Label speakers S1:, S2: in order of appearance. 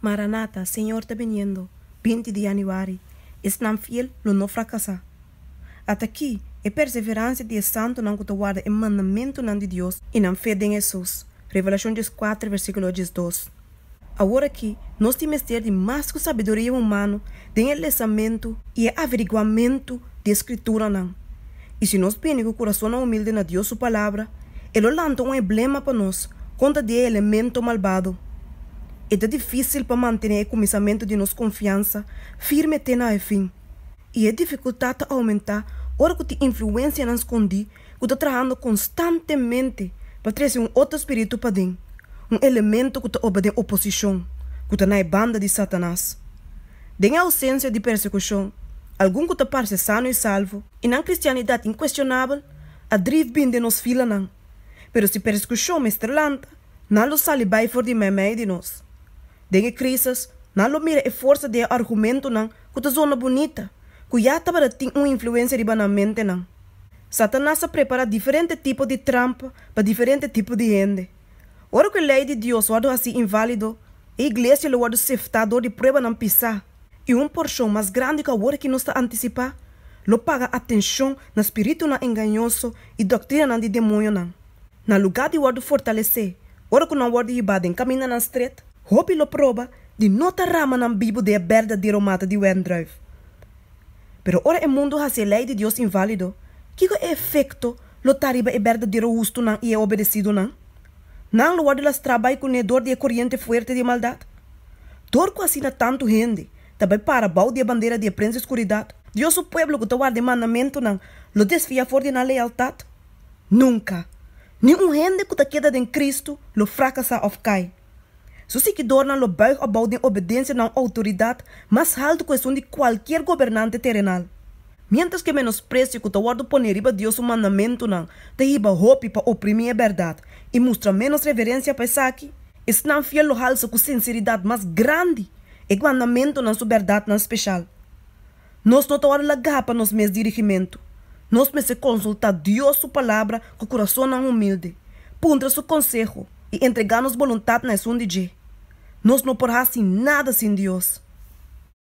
S1: Maranata, Señor ta biniendo, binti di Januari, Esnan fiel lo no fracasá. At'akí, e perseverancia di e santunan cu ta warda e mandamentunan di Dios i nan fe den Hesus, Revelacion dies kuater, versículo dies dos. Awor akí, nos tin mester di mas cu sabiduria humano den e lesamentu i e averiguamentu di e Scritura'nan. I si nos bini ku kurasonnan humilde na Dios su Palabra, e lo lanta un eblema pa nos kontra di e elemento malbado. I ta difísil pa mantené e kuminsamentu di nos konfiansa firme te na e fin, i e difikultat ta oumentá ora ku tin influensianan skondí ku ta trahando konstantemente pa trese un oto spiritu paden, un elemento ku ta oba den oposishon, ku ta na e banda di Satanas. Den e ousensia di persekushon, algun ku ta parse sano i salvo, I nan cristianidad incuestionabel a drief bin den nos filanan, pero si persecucion mester lanta, nan lo sali bay for di meimei di nos. Den e crisis, nan lo mira e forsa di e argumentonan cu ta zona bunita, cu ya tabata tin un influencia riba nan mentenan. Satanas a prepara diferente tipo di trampa pa diferente tipo di hende. Ora cu e ley di Dios wordo haci invalido, e Iglesia lo wordo sefta dor di pruebanan pisa. i un porshon mas grandi ku awor aki nos ta antisipá, lo paga atenshon na spiritunan engañoso i doktrinanan di demonionan. Na lugá di wòrdu fortalesé ora ku nan wòrdu yibá den kamindanan stret, hopi lo proba di no ta ramanan bibu di e berdadero mata di wendrùif. Pero ora e mundu hasi e lei di Dios inválido, kiko e efekto lo ta riba e berdadero hustunan i e obedesidunan? Nan lo wòrdu lastrá bai kuné dor di e koriente fuerte di e maldat. Dor ku asina tantu hende ta bai para bou di e bandera di e prens di skuridat. Dios su pueblo ku ta warda e mandamentunan lo desfia for di nan lealtat? Nunka! Ni un hende ku ta keda den Kristu lo frakasá òf kai. Su siguidornan lo buig abou den obedencia na un autoridad mas haltu cu esun di cualkier gobernante terenal, mientras cu e menosprecio cu ta wordo pone riba Dios su mandamentunan ta hiba hopi pa oprimi e berdad y mustra menos reverencia pa esaki. Esnan fiel lo halsa cu sinceridad mas grandi e mandamentunan su berdadnan special. Nos no ta wòrdu lagá pa nos mes dirigimentu. Nos mester konsultá Dios su Palabra ku kurasonnan humilde, puntra su konseho i entregá nos boluntat na esun di dje. Nos no por hasi nada sin Dios.